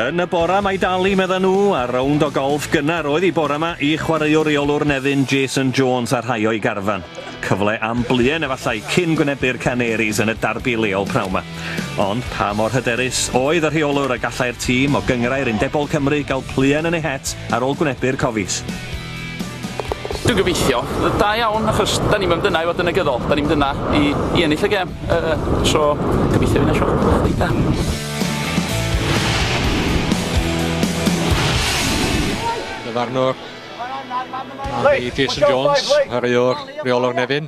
Yn y bora mae Dali, medda nhw, a rownd o golff gynnar oedd i bora ma i chwaraewr reolwr Nefyn Jason Jones a rhai o'i garfan. Cyfle am bluen efallai cyn gwynebu'r Canaries yn y darbi leol prawn ma. Ond pa mor hyderus oedd y rheolwr y gallai'r tîm o gynghrair undebol Cymru gael pluen yn eu het ar ôl gwynebu'r Cofies? Dwi'n gobeithio. Da iawn, achos da ni'm am dyna i fod yn negyddol, da ni'm dyna i i ennill y gêm, yy so gobeithio fydd 'na siwrne bach reit dda. Farnwr, a i Jason Jones, chwaraewr rheolwr Nefyn.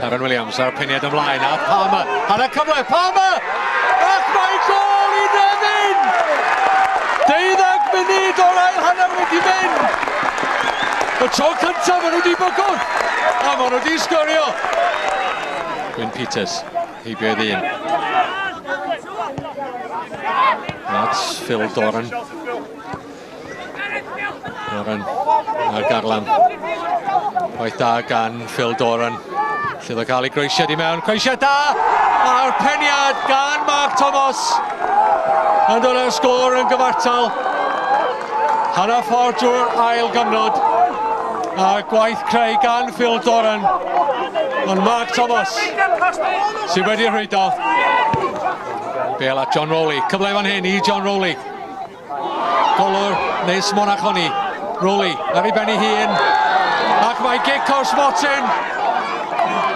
Karen Williams a'r peniad ymlaen a Palmer ar y cyfle, Palmer! Ac mae gol i Nefyn! Deuddag munud o'r ail hanner wedi mynd! Y tro cyntaf maen nhw wedi bygwth, a maen nhw wedi sgorio! Gwyn Peters, heibio ei ddyn. That's Phil Doran. Doran a Garlam. Gwaith da gan Phil Doran. Sydd o cael ei groesiad i mewn. Croesiad da! A'r peniad gan Mark Thomas. Yn dod â'r sgôr yn gyfartal. Hanna ffordd drwy'r ail gyfnod. A gwaith creu gan Phil Doran. Ond Mark Thomas sydd wedi rhwydo. Bel at John Rowley. Cyfle fan hyn i John Rowley. Golwr, Nis Monachoni, Rowley ar ei ben ei hun, ac mae gic o'r smotin.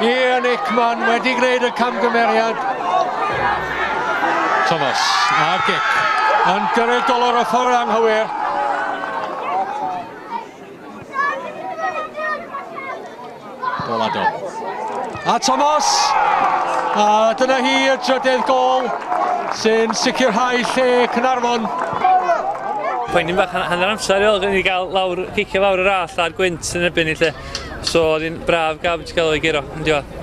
Ian Ickman wedi gwneud y camgymeriad. Thomas a'r gic yn gyrru'r golwr y ffordd anghywir. Gol ado. A Thomas! A dyna hi y drydedd gol sy'n sicrhau lle Cynarfon. Poen i'n bach hanner amser i ôl gen i gael lawr, cicio lawr yr all a'r gwynt yn ebyn i lle. So oedd hi'n braf gaf wedi cael ei giro yn diwedd.